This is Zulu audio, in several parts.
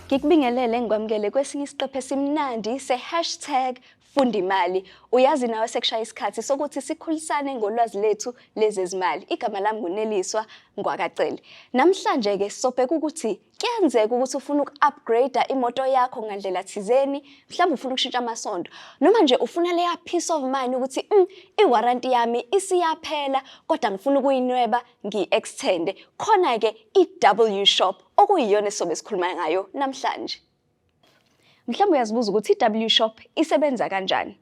Ngikubingelele ngikwamukele kwesinye isiqephe simnandi se-hashtag funda imali. Uyazi nawe sekushaya isikhathi sokuthi sikhulisane ngolwazi lethu lezezimali. Igama lami nguneliswa Ngwakacele. Namhlanje-ke sobheka ukuthi Kuyenzeka ukuthi ufuna uku-upgrade imoto yakho ngandlela thizeni, mhlawumbe ufuna ukushintsha amasondo, noma nje ufuna leya peace of mind ukuthi mm, i-warranty yami isiyaphela kodwa ngifuna ukuyinweba ngiyi-extende. Khona-ke i-W Shop okuyiyona esizobe sikhuluma ngayo namhlanje. Mhlawumbe uyazibuza ukuthi i-W Shop isebenza kanjani.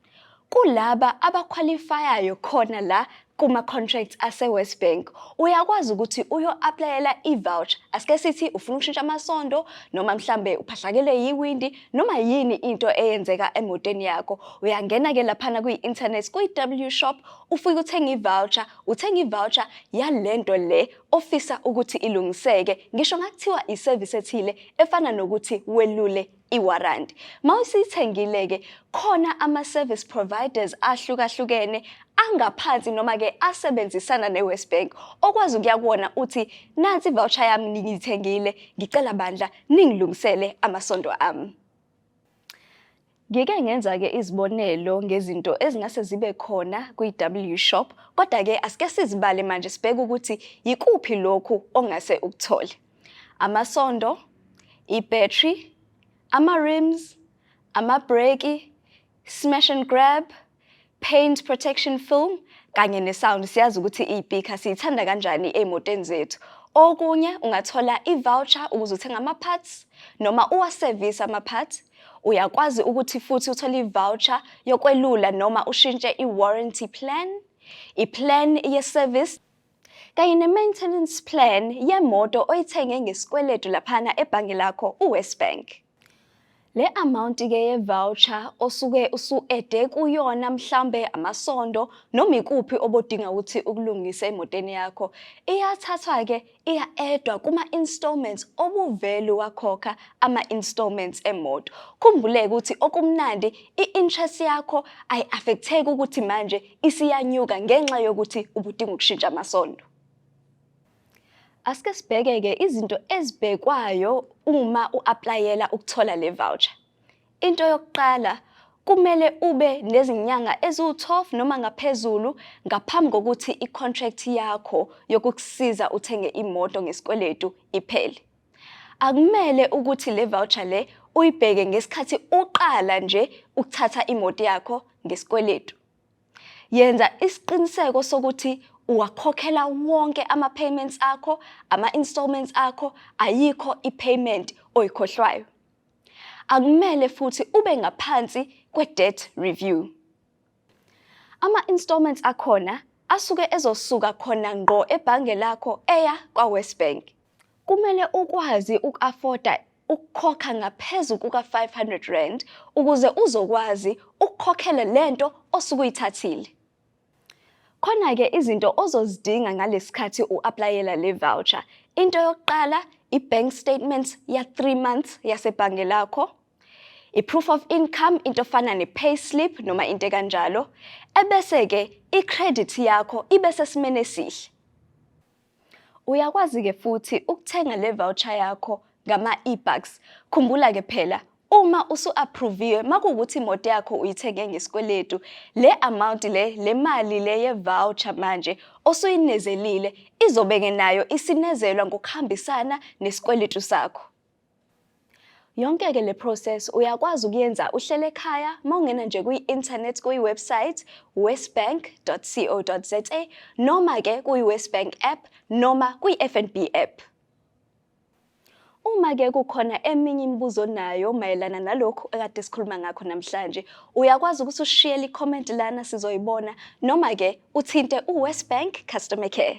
Kulaba abakhwalifayayo khona la kuma-contracts ase-West Bank uyakwazi ukuthi uyo-aplayela i-voucher asike sithi ufuna ukushintsha amasondo noma mhlambe uphahlakele yiwindi noma yini into eyenzeka emotweni yakho uyangena-ke laphana kwi-internet kwi-w shop ufike uthenge i-voucher uthenge i-voucher yale nto le ofisa ukuthi ilungiseke ngisho ngakuthiwa iservice ethile efana nokuthi welule iwarranty mawusithengile ke khona ama service providers ahlukahlukene angaphansi noma ke asebenzisana neWest Bank okwazi ukuya kuwona uthi nansi voucher yami ngiyithengile ngicela bandla ningilungisele amasonto ami Ngike ngenza-ke izibonelo ngezinto ezingase zibe khona kwi-W Shop, kodwa-ke asike sizibale manje sibheke ukuthi yikuphi lokhu ongase ukuthole. Amasondo, i-battery, ama-rims, amabhreki, smash and grab, paint protection film kanye ne-sound siyazi ukuthi iyipikha siyithanda kanjani ey'motweni zethu okunye ungathola i-voucher ukuze uthenge ama-parts noma uwasevise ama-parts uyakwazi ukuthi futhi uthole i-voucher yokwelula noma ushintshe i-warranty plan i-plan ye-service kanye ne-maintenance plan yemoto oyithenge ngesikweletu laphana ebhange lakho uwest bank Le amount ke ye voucher osuke usuede kuyona mhlambe amasondo noma ikuphi obodinga ukuthi ukulungise emotweni yakho iyathathwa ke iya edwa kuma installments obuvelu wakhokha ama installments emoto khumbuleke ukuthi okumnandi i-interest yakho ayi affecteki ukuthi manje isiyanyuka ngenxa yokuthi ubudinga ukushintsha amasondo Asike sibheke-ke izinto ezibhekwayo uma u-aplayela ukuthola le voucher. Into yokuqala kumele ube nezinyanga eziwu-12 noma ngaphezulu ngaphambi kokuthi i-contract yakho yokukusiza uthenge imoto ngesikweletu iphele. Akumele ukuthi le voucher le uyibheke ngesikhathi uqala nje ukuthatha imoto yakho ngesikweletu. Yenza isiqiniseko sokuthi uwakhokhela wonke ama-payments akho, ama-installments akho, ayikho i-payment oyikhohlwayo. Akumele futhi ube ngaphansi kwe-debt review. Ama-installments akhona asuke ezosuka khona ngqo ebhange lakho eya kwaWesBank. Kumele ukwazi uku-afoda ukukhokha ngaphezu kuka-R500 ukuze uzokwazi ukukhokhela le nto osuke uyithathile. Khona-ke izinto ozozidinga ngalesikhathi u-aplayela le voucher. Into yokuqala i-bank statement ya-three months yasebhange lakho, i-proof of income into efana ne-pay slip noma into ekanjalo, ebese-ke i-credit yakho ibe sesimeni esihle. Uyakwazi-ke futhi ukuthenga le voucher yakho ngama-e-bucks. Khumbula-ke phela uma usu-approviwe makuwukuthi imoto yakho uyithenge ngesikweletu le amount le le mali le ye-voucher manje osuyinezelile izobe-ke nayo isinezelwa ngokuhambisana nesikweletu sakho. Yonke-ke le process uyakwazi ukuyenza uhlele ekhaya uma ungena nje kwi-internet kuyi-website westbank.co.za noma-ke kuyi-westbank app noma kwi-fnb app. Uma-ke kukhona eminye imibuzo onayo mayelana nalokhu ekade sikhuluma ngakho namhlanje, uyakwazi ukuthi ushiyele i-comment lana sizoyibona noma-ke uthinte u-Westbank Customer Care.